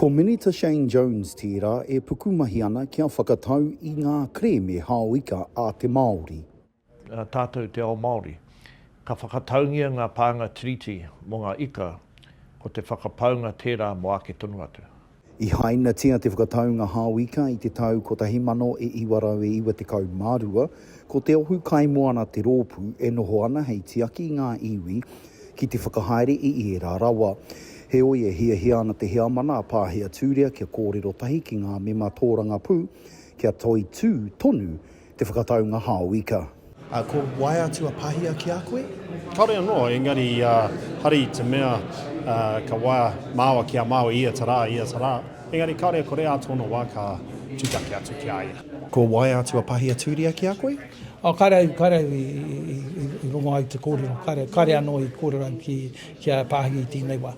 Ko Minita Shane Jones tērā e pukumahi ana kia whakatau i ngā kerēme hao-ika a te Māori. Tātou te ao Māori. Ka whakataungia ngā pānga Tiriti mō ngā ika, ko te whakapaunga tērā mō āke tonu atu. I hainatia te whakataunga hao-ika i te tau 1992, ko Te Ohu Kaimoana te rōpū e noho ana hei tiaki i ngā iwi ki te whakahaere i ērā rawa. Heoi, e hiahia ana te Heamana a Pāhi Aturia kia kōrero tahi ki ngā mema tōrangapū kia toitū tonu te whakataunga hao ika. Ā, ko wai atu a Pāhia ki a koe? Kāore anō, engari hari te mea ka waia māua ki a māua ia te rā, ia te rā. Engari kāore e kore ā tōna wā ka tūtaki atu ki a ia. Ko wai atu a Pāhi Aturia ki a koe? Oh, karau, karau i, i, i, i rongo au te kōrero. Karau, kare anō i kōrero au ki, ki a Pāhia i tēnei wā.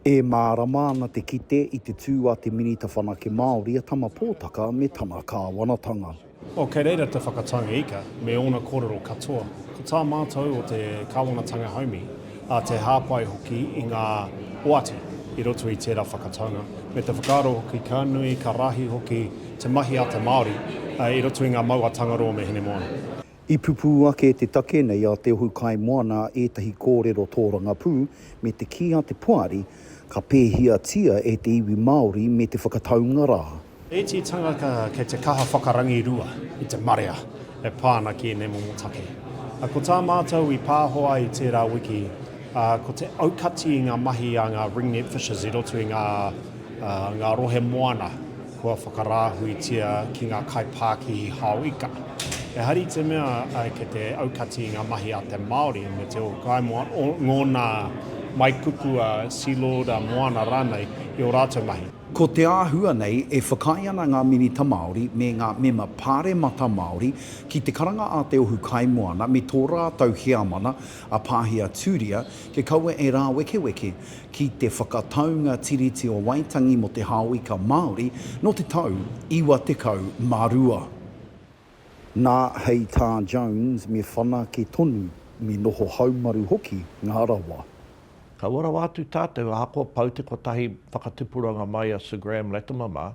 E mārama ana te kite i te tū a te Minita Whanake Māori a Tama Pōtaka me tana kāwanatanga. Oh, kei reira te whakataunga ika me ōna kōrero katoa. Ko tā mātou o te kāwanatanga haumi, a te hāpai hoki i ngā oati i roto i tērā whakataunga, me te whakaaro hoki ka nui, ka rahi hoki te mahi a te Māori i roto i ngā mau a Tangaroa me Hinemoana. I pupū ake te take nei a Te Ohu Kaimoana ētahi kōrero tōrangapū me te kī a te Poari Ka pēhiatia e te iwi Māori me te whakataunga rā. Ētehi tangata kei te kaha whakarangirua i te marea e pā ana ki ēnei momo take. Ko tā mātou i pāho ai tērā wiki, ko te aukati i ngā mahi a ngā ringnet fishers i roto i ngā rohe moana. Kua whakarāhuitia ki ngā kaipākihi hao ika. Ehara i te mea kei te aukati i ngā mahi a te Māori me te ōkaimoa ngōna mai kupu a Sealord, a Moana rānei i ō rātou mahi. Ko te āhua nei e whakaae ana ngā Minita Māori me ngā Mema Pāremata Māori ki te karanga a te Ohu Kaimoana me tō rātou heamana a Pāhia Tūria kia kaua e rāwekeweke ki te whakataunga Tiriti o Waitangi mō te Hāwika Māori nō te tau 92. Nā, hei tā Jones, me whanake tonu, me noho haumaru hoki ngā rawa. Kaua rawa atu tātou, ahakoa pau te kotahi whakatupuranga mai a Sir Graham Latimer mā,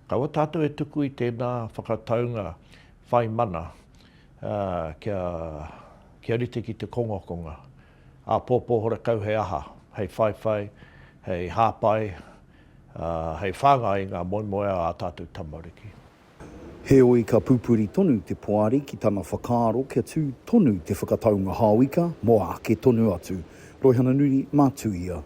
kaua tātou e tuku i tēnā whakataunga whai mana kia rite ki te kongakonga. Āpōpō horekau he aha, hei whaiwhai, hei hāpai, ā, hei whāngai i ngā moemoeā a tātou tamariki. Heoi ka pupuri tonu te poari ki tana whakaaro kia tū tonu te whakataunga hāuika mō āke tonu atu. Roihana Nuri, mā Tuia.